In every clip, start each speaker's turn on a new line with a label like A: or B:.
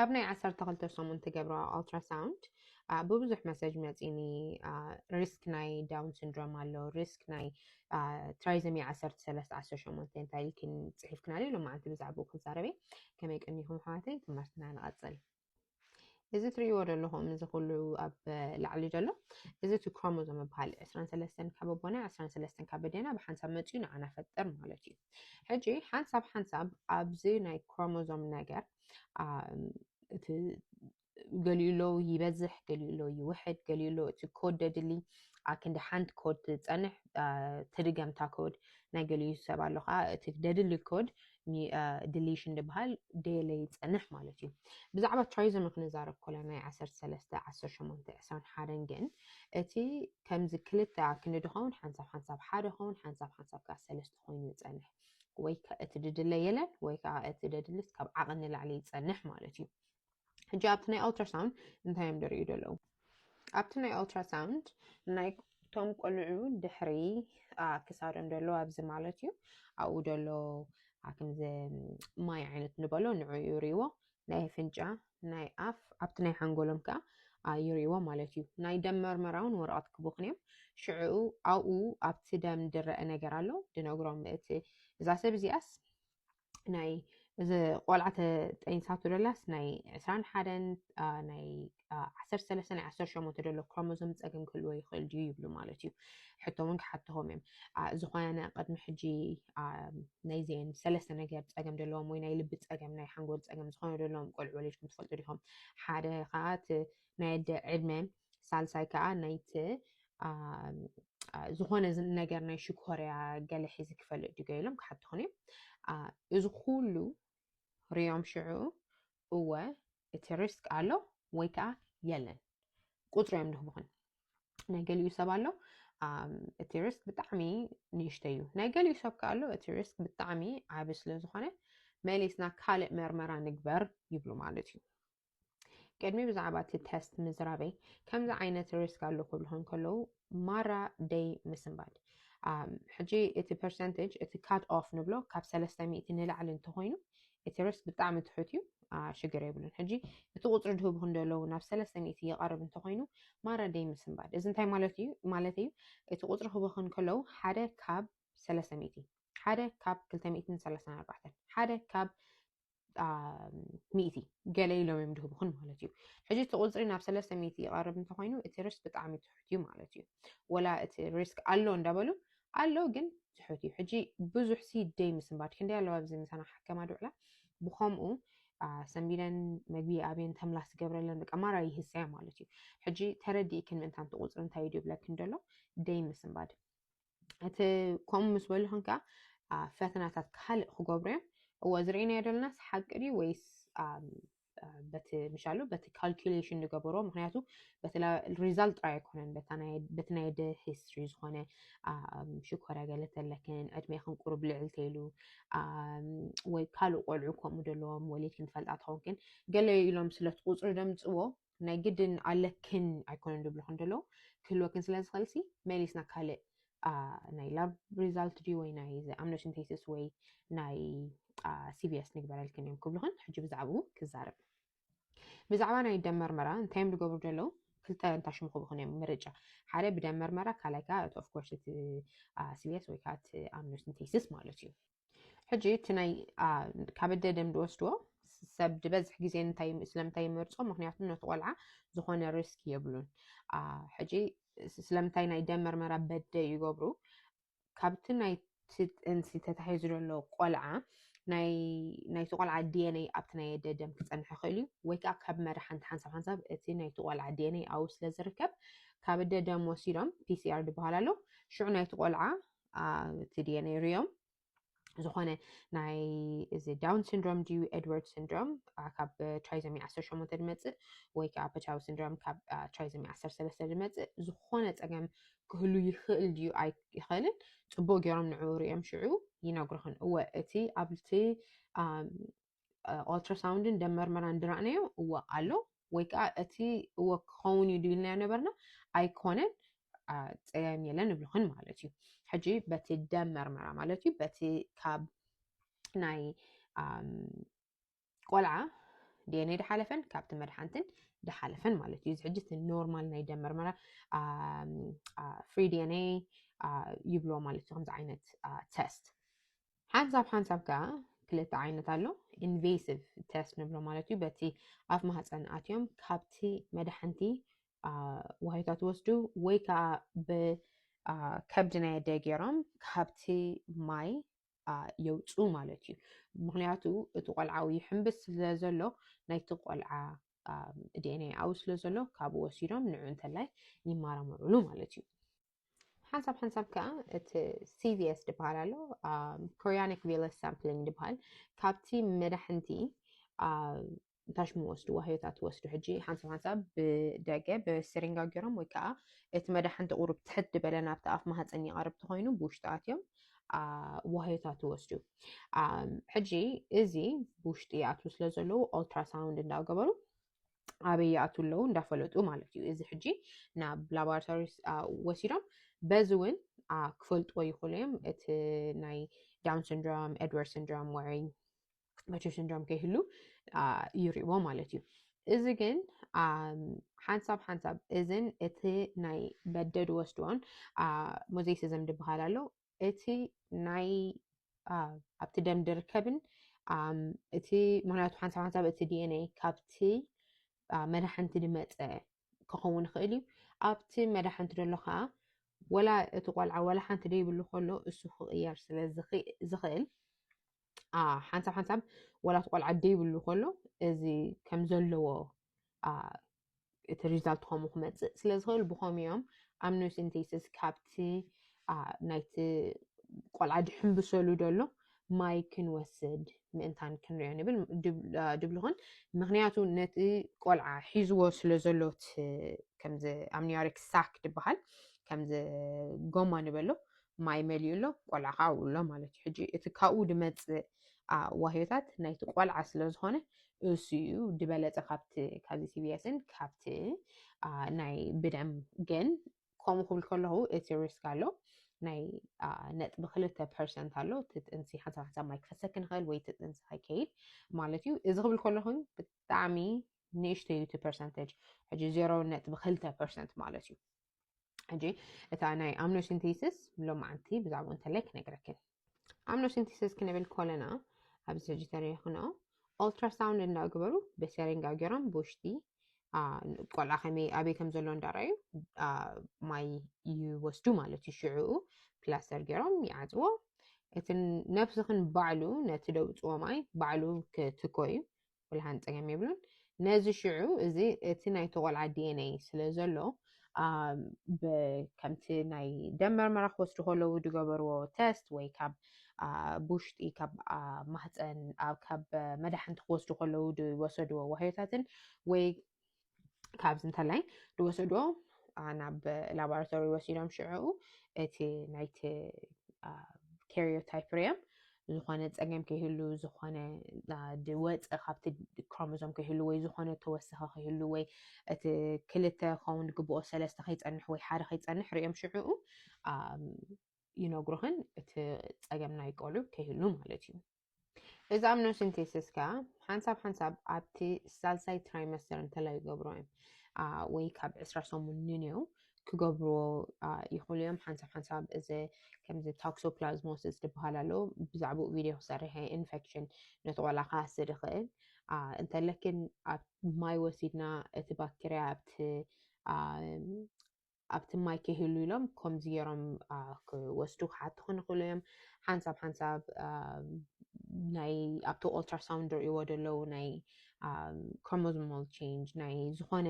A: ኣብ ናይ ዓሰርተ ክልተ ሰሙን ትገብሮ ኣልትራሳውንድ ብብዙሕ መሰጅ መፂኒ ሪስክ ናይ ዳውን ሲንድሮም ኣሎ ሪስክ ናይ ትራይዘሚ ዓሰርተ ሰለስተ ዓሰርተ ሸሞንተ እንታይ ኢልክን ፅሒፍክናለ ሎማዓንቲ ብዛዕባኡ ክንዛረበ ከመይ ቀኒኹም ኣሕዋተይ ትምህርትና ንቐፅል እዚ ትርእይዎ ዘለኹም እዚ ኩሉ ኣብ ላዕሊ ዘሎ እዚ እቲ ክሮሞዞም ይበሃል ዕስራን ሰለስተን ካብ ኣቦና ዕስራን ሰለስተን ካብ ኣዴና ብሓንሳብ መፅኡ ንዓና ፈጥር ማለት እዩ ሕጂ ሓንሳብ ሓንሳብ ኣብዚ ናይ ክሮሞዞም ነገር እቲ ገሊኡሎ ይበዝሕ ገሊኡሎ ይውሕድ ገሊኡሎ እቲ ኮድ ደድሊ ክንዲ ሓንቲ ኮድ ትፀንሕ ትድገምታ ኮድ ናይ ገሊኡ ሰብ ኣሎ ከዓ እቲ ደድሊ ኮድ ድሊሽን ድበሃል ደለ ይጸንሕ ማለት እዩ ብዛዕባ ትራይዞሚ ክንዛረብ ኮለ ናይ 13 18 21 ግን እቲ ከምዚ ክልተ ክንዲ ድኸውን ሓንሳብ ሓንሳብ ሓደ ኸውን ሓንሳብ ሓንሳብ ከዓ ሰለስተ ኮይኑ ይጸንሕ ወይ እቲ ድድለ የለን ወይ ከዓ እቲ ደድልስ ካብ ዓቕን ንላዕሊ ይጸንሕ ማለት እዩ ሕጂ ኣብቲ ናይ ኦልትራሳውንድ እንታይ እዮም ዝርእዩ ዘለዉ ኣብቲ ናይ ኦልትራሳውንድ ናይ እቶም ቆልዑ ድሕሪ ክሳዶም ዘሎ ኣብዚ ማለት እዩ ኣብኡ ዘሎ ከምዚ ማይ ዓይነት ንበሎ ንዑ ይርእዎ ናይ ፍንጫ ናይ ኣፍ ኣብቲ ናይ ሓንጎሎም ከዓ ይርእዎ ማለት እዩ ናይ ደም መርመራ እውን ወረቐት ክቡኽን እዮም ሽዕኡ ኣብኡ ኣብቲ ደም ድረአ ነገር ኣሎ ድነግሮም እቲ እዛ ሰብ እዚኣስ ናይ እዚ ቆልዓ ተጠኒሳቶ ደላስ ናይ ዕስራን ሓደን ናይ ዓሰርተ ሰለስተ ናይ ዓሰርተ ሸሞንተ ደሎ ክሮሞዞም ፀገም ክህልዎ ይኽእል ድዩ ይብሉ ማለት እዩ ሕቶ እውን ክሓትኹም እዮም ዝኾነ ቅድሚ ሕጂ ናይዚአን ሰለስተ ነገር ፀገም ደለዎም ወይ ናይ ልቢ ፀገም ናይ ሓንጎል ፀገም ዝኾነ ደለዎም ቆልዑ ወሊድኩም ትፈልጡ ዲኹም ሓደ ከዓ እቲ ናይ ኣደ ዕድመ ሳልሳይ ከዓ ናይቲ ዝኾነ ነገር ናይ ሽኮርያ ገለ ሒዚ ክፈልጥ ድዩ ገይሎም ክሓትኹን እዮም እዚ ኩሉ ርዮም ሽዑ እወ እቲ ሪስክ ኣሎ ወይ ከዓ የለን ቁፅሪ እዮም ድህብኹን ናይ ገሊኡ ሰብ ኣሎ እቲ ሪስክ ብጣዕሚ ንእሽተ እዩ ናይ ገሊኡ ሰብ ከዓ ኣሎ እቲ ሪስክ ብጣዕሚ ዓቢ ስለ ዝኾነ መሊስና ካልእ መርመራ ንግበር ይብሉ ማለት እዩ ቅድሚ ብዛዕባ እቲ ተስት ምዝራበይ ከምዚ ዓይነት ሪስክ ኣሎ ክብልኹ እንከለዉ ማራ ደይ ምስንባድ ሕጂ እቲ ፐርሰንቴጅ እቲ ካት ኦፍ ንብሎ ካብ ሰለስተ ሚእቲ ንላዕሊ እንተኾይኑ እቲ ሪስክ ብጣዕሚ ትሑት እዩ ሽግር የብሉን ሕጂ እቲ ቁፅሪ ድህብኹ እንደለዉ ናብ ሰለስተ ሚእቲ ይቐርብ እንተኾይኑ ማረደይ ምስንባድ እዚ እንታይ ማለት እዩ ማለት እዩ እቲ ቁፅሪ ክህብኹ እንከለዉ ሓደ ካብ ሰለስተ ሚእቲ ሓደ ካብ ክልተ ሚእትን ሰላሳን ኣርባዕተን ሓደ ካብ ሚእቲ ገለ ኢሎም እዮም ድህብኹን ማለት እዩ ሕጂ እቲ ቁፅሪ ናብ ሰለስተ ሚእቲ ይቐርብ እንተኮይኑ እቲ ሪስክ ብጣዕሚ ትሑት እዩ ማለት እዩ ወላ እቲ ሪስክ ኣሎ እንዳበሉ ኣሎ ግን ትሑት እዩ ሕጂ ብዙሕ ሲ ደይ ምስንባድ ክንደይ ኣለዋ ኣብዚ ምሳና ሓከማ ድውዕላ ብከምኡ ሰንቢለን መግቢ ኣብየን ተምላስ ገብረለን በቃ ማራ ይህሰያ ማለት እዩ ሕጂ ተረዲእክን ምእንታንቲ ቁፅሪ እንታይ እዩ ድብለክን ደሎ ደይ ምስንባድ እቲ ከምኡ ምስ በልኹም ከዓ ፈተናታት ካልእ ክገብሩ እዮም እዎ ዝርእናዮ ደለናስ ሓቂ ድዩ ወይስ በቲ ምሻሉ በቲ ካልኩሌሽን ዝገበሮ ምክንያቱ በቲ ሪዛልት ጥራይ ኣይኮነን በቲ ናይ ደ ሂስትሪ ዝኾነ ሽኮር ያገለተለክን ዕድሜክን ቁሩብ ልዕል ተይሉ ወይ ካልእ ቆልዑ ከምኡ ደለዎም ወሊድክን ትፈልጣ ትኸውንክን ገለ ኢሎም ስለቲ ቁፅሪ ደምፅዎ ናይ ግድን ኣለክን ኣይኮነን ድብሉ ክንደለዉ ክህልወክን ስለ ዝኽእል ሲ መሊስና ካልእ ናይ ላብ ሪዛልት ድዩ ወይ ናይ ኣምነሽን ቴስስ ወይ ናይ ሲቪስ ንግበረልክን እዮም ክብሉኽን ሕጂ ብዛዕባኡ ክዛረብ ብዛዕባ ናይ ደም መርመራ እንታይ እዮም ዝገብሩ ዘለዉ ክልተ እንታይ ሽሙ ክብኹን እዮም ምርጫ ሓደ ብደም መርመራ ካልኣይ ከዓ እቲ ኦፍኮርስ እቲ ሲቪስ ወይ ከዓ እቲ ኣምነሽን ቴስስ ማለት እዩ ሕጂ እቲ ናይ ካብ ኣደ ደም ዝወስድዎ ሰብ ዝበዝሕ ግዜ እንታይ ስለምንታይ ይመርፆ ምክንያቱ ነቲ ቆልዓ ዝኾነ ሪስክ የብሉን ሕጂ ስለምንታይ ናይ ደም መርመራ በደ ይገብሩ ካብቲ ናይ እንሲ ተታሒዙ ዘሎ ቆልዓ ናይቲ ቆልዓ ዲኤንኤ ኣብቲ ናይ ኣደ ደም ክፀንሐ ይኽእል እዩ ወይ ከዓ ካብ መሪ ሓንቲ ሓንሳብ ሓንሳብ እቲ ናይቲ ቆልዓ ዲኤንኤ ኣብኡ ስለ ዝርከብ ካብ ኣደ ደም ወሲዶም ፒሲኣር ዝበሃል ኣሎ ሽዑ ናይቲ ቆልዓ እቲ ዲኤንኤ ርዮም ዝኾነ ናይ እዚ ዳውን ሲንድሮም ድዩ ኤድዋርድ ሲንድሮም ካብ ትራይዞሚ 18 ዝመፅእ ወይ ከዓ ፐቻዊ ሲንድሮም ካብ ትራይዞሚ 13 ዝመፅእ ዝኾነ ፀገም ክህሉ ይኽእል ድዩ ኣይኽእልን ፅቡቅ ገይሮም ንዕኡ ርዮም ሽዑ ይነግርኽን እወ እቲ ኣብቲ ኦልትራሳውንድን ደም መርመራን ድራእናዮ እወ ኣሎ ወይ ከዓ እቲ እወ ክኸውን እዩ ድብልናዮ ነበርና ኣይኮነን ፀያይም የለን ንብልኽን ማለት እዩ ሕጂ በቲ ደም መርመራ ማለት እዩ በቲ ካብ ናይ ቆልዓ ዲኤንኤ ድሓለፈን ካብቲ መድሓንትን ድሓለፈን ማለት እዩ እዚ ሕጂ እቲ ኖርማል ናይ ደም መርመራ ፍሪ ዲኤንኤ ይብሎ ማለት እዩ ከምዚ ዓይነት ተስት ሓንሳብ ሓንሳብ ከዓ ክልተ ዓይነት ኣሎ ኢንቬሲቭ ቴስት ንብሎ ማለት እዩ በቲ ኣብ ማህፀን ኣትዮም ካብቲ መድሓንቲ ዋሂታት ወስዱ ወይ ከዓ ብከብዲ ናይ ኣደ ገይሮም ካብቲ ማይ የውፁ ማለት እዩ ምክንያቱ እቲ ቆልዓዊ ይሕምብስ ስለ ዘሎ ናይቲ ቆልዓ ዲኤንኤ ኣው ስለ ዘሎ ካብኡ ወሲዶም ንዑ እንተላይ ይመራመሩሉ ማለት እዩ ሓንሳብ ሓንሳብ ከዓ እቲ ሲቪኤስ ዝበሃል ኣሎ ኮሪያኒክ ቪለስ ሳምፕሊንግ ዝበሃል ካብቲ መዳሕንቲ እንታይ ሽሙ ወስዱ ዋህዮታት ወስዱ ሕጂ ሓንሳብ ሓንሳብ ብደገ ብስሪንጋ ገይሮም ወይ ከዓ እቲ መዳሕንቲ ቁሩብ ትሕት ዝበለ ናብቲ ኣፍ ማህፀን ይቐርብ ተኮይኑ ብውሽጢ ኣትዮም ዋህዮታት ይወስዱ ሕጂ እዚ ብውሽጢ ይኣትዉ ስለ ዘለዉ ኦልትራሳውንድ እንዳገበሩ ኣበይ ይኣትው ኣለዉ እንዳፈለጡ ማለት እዩ እዚ ሕጂ ናብ ላቦራቶሪ ወሲዶም በዚ እውን ክፈልጥዎ ይኽእሉ እዮም እቲ ናይ ዳውን ሲንድሮም ኤድዋርድ ሲንድሮም ወይ መቹር ሲንድሮም ከይህሉ ይሪእዎ ማለት እዩ እዚ ግን ሓንሳብ ሓንሳብ እዝን እቲ ናይ በደድ ወስድዎን ሞዜሲዝም ዝበሃል ኣሎ እቲ ናይ ኣብቲ ደም ድርከብን እቲ ምክንያቱ ሓንሳብ ሓንሳብ እቲ ዲኤንኤ ካብቲ መዳሕንቲ ድመፀ ክኸውን ይኽእል እዩ ኣብቲ መዳሕንቲ ደሎ ከዓ ወላ እቲ ቆልዓ ወላ ሓንቲ ደይብሉ ከሎ እሱ ክቕየር ስለ ዝኽእል ሓንሳብ ሓንሳብ ወላ እቲ ቆልዓ ደይብሉ ከሎ እዚ ከም ዘለዎ እቲ ሪዛልት ከምኡ ክመፅእ ስለ ዝኽእል ብኸም እዮም ኣብ ኖሲንቴስስ ካብቲ ናይቲ ቆልዓ ድሕንብሰሉ ደሎ ማይ ክንወስድ ምእንታን ክንሪኦ ንብል ድብልኹን ምክንያቱ ነቲ ቆልዓ ሒዝዎ ስለ ዘሎት ከምዚ ኣምኒዮሪክ ሳክ ድበሃል ከምዚ ጎማ ንበሎ ማይ መሊኡ ኣሎ ቆልዓ ከዓ ኣብኡ ኣሎ ማለት እዩ ሕጂ እቲ ካብኡ ድመፅእ ዋህዮታት ናይቲ ቆልዓ ስለ ዝኾነ እሱ እዩ ዝበለፀ ካብቲ ካብዚ ሲቢኤስን ካብቲ ናይ ብደም ግን ከምኡ ክብል ከለኹ እቲ ሪስክ ኣሎ ናይ ነጥቢ ክልተ ፐርሰንት ኣሎ እቲ ጥንሲ ሓንሳብ ሓንሳብ ማይ ክፈሰክ ንኽእል ወይ እቲ ጥንሲ ከይከይድ ማለት እዩ እዚ ክብል ከለኹ ብጣዕሚ ንእሽተዩ እቲ ፐርሰንተጅ ሕጂ ዜሮ ነጥቢ ክልተ ፐርሰንት ማለት እዩ ሕጂ እታ ናይ ኣምኖሲንቴሲስ ሎማዓንቲ ብዛዕባኡ እንተላይ ክነግረክን ኣምኖሲንቴሲስ ክንብል ኮለና ኣብዚ ሕጂ ተሪኦ ክኖ ኦልትራሳውንድ እንዳገበሩ በሰሪንጋ ገሮም ብውሽጢ ቆልዓ ከመይ ኣበይ ከም ዘሎ እንዳረኣዩ ማይ ይወስዱ ማለት እዩ ሽዕኡ ፕላስተር ገሮም ይዓፅዎ እቲ ነብስኽን ባዕሉ ነቲ ደውፅዎ ማይ ባዕሉ ክትኮ እዩ ብልሃን ጸገም የብሉን ነዚ ሽዑ እዚ እቲ ናይ ተቆልዓ ዲኤንኤ ስለ ዘሎ ከምቲ ናይ ደም መርመራ ክወስዱ ከለዉ ዝገበርዎ ተስት ወይ ካብ ብውሽጢ ካብ ማህፀን ካብ መዳሕንቲ ክወስዱ ከለዉ ዝወሰድዎ ዋህዮታትን ወይ ካብዚ እንተላይ ዝወሰዶ ናብ ላቦራቶሪ ወሲዶም ሽዑ እቲ ናይቲ ካሪዮታይፕሪየም ዝኾነ ፀገም ከይህሉ ዝኾነ ወፀ ካብቲ ክሮሞዞም ከይህሉ ወይ ዝኾነ ተወሰኸ ከይህሉ ወይ እቲ ክልተ ከውን ግብኦ ሰለስተ ከይፀንሕ ወይ ሓደ ከይፀንሕ ሪኦም ሽዑኡ ይነግሩኽን እቲ ፀገም ናይ ቆልዑ ከይህሉ ማለት እዩ እዚ ኣምኖሲንቴሲስ ከኣ ሓንሳብ ሓንሳብ ኣብቲ ሳልሳይ ትራይመስተር እንተላይ ይገብሮ እዮም ወይ ካብ ዕስራ ሰሙን ንንየው ክገብርዎ ይኽእሉ እዮም ሓንሳብ ሓንሳብ እዚ ከምዚ ታክሶፕላዝሞሲስ ዝበሃል ኣሎ ብዛዕባኡ ቪድዮ ክሰርሐ ኢንፌክሽን ነቲ ቆልዓ ክሃስድ ይኽእል እንተለክን ኣብ ማይ ወሲድና እቲ ባክተርያ ኣብቲ ኣብቲ ማይ ክህሉ ኢሎም ከምዚ ገይሮም ክወስዱ ክሓቱ ክንክእሉ እዮም ሓንሳብ ሓንሳብ ናይ ኣብቲ ኦልትራሳውንድ ርእይዎ ደለዉ ናይ ክሮሞዞማል ቼንጅ ናይ ዝኾነ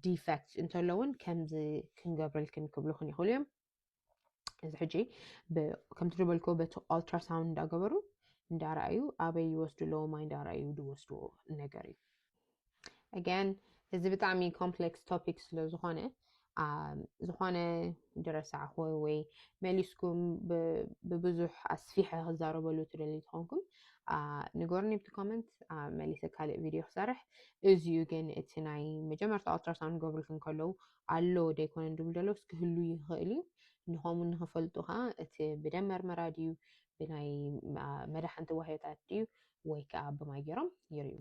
A: ዲፌክት እንተለውን ከምዚ ክንገብረልክን ክብሉክን ይኽእሉ እዮም እዚ ሕጂ ከምቲ ዝበልኮ በቲ ኣልትራሳውንድ እንዳገበሩ እንዳረኣዩ ኣበይ ይወስዱ ኣለዎ ማይ እንዳረኣዩ ዝወስድዎ ነገር እዩ ኣጋን እዚ ብጣዕሚ ኮምፕሌክስ ቶፒክ ስለ ዝኾነ ዝኾነ ድረሳዕ ኾይ ወይ መሊስኩም ብብዙሕ ኣስፊሐ ክዛረበሉ ትደልዩ ትኾንኩም ንገሩኒ ብቲ ኮመንት መሊሰ ካልእ ቪድዮ ክሰርሕ እዚዩ ግን እቲ ናይ መጀመርታ ኣልትራሳውንድ ገብርልክን ከለዉ ኣሎ ደይኮነን ድብል ደሎስ ክህሉ ይኽእል እዩ ንኸምኡ ንኽፈልጡ ከኣ እቲ ብደም መርመራ ድዩ ብናይ መዳሕንቲ ዋህዮታት ድዩ ወይ ከኣ ብማይ ጌሮም ይርእዩ።